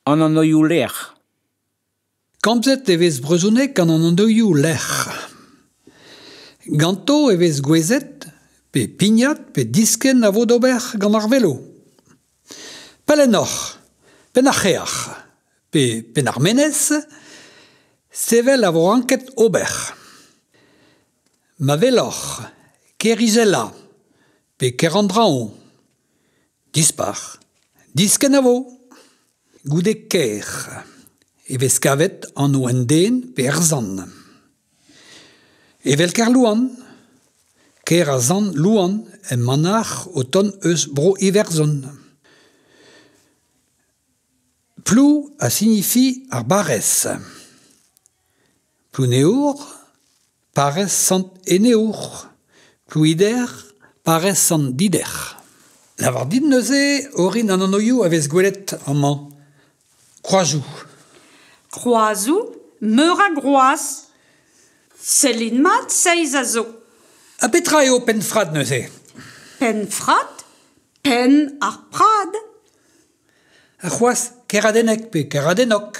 An anoioù-lec'h. Komzet e vez brezhoneg gant an anoioù-lec'h. Ganto e vez gouezet pe pignat pe diskenn a vo d'ober gant ar velo. Pellennoc'h, Penn-ar-C'hreac'h pe Penn-ar-Menez, sevel a vo ranket ober. Ma weloc'h Kêr-Izelañ pe Kêr-an-Draoñ. Dispac'h, diskenavo goude kêr e vez kavet anv un den pe ur sant. Evel Kerlouan, kêr a sant Louan e manac'h o tont eus Bro-Iwerzhon. Plou a signifie ar barrez. Plouneour, parrez Sant-Eneour, Plouider, parrez Sant-Dider. Lavar dit neuze orin an anvioù a vez gwelet amañ. Kroazoù. Kroazoù meur a groaz. Sellin mat, seizh a zo. Ha petra eo Penfrad neuze? Penfrad? Penn ar prad. Ha c'hoazh keradennek pe keradenok?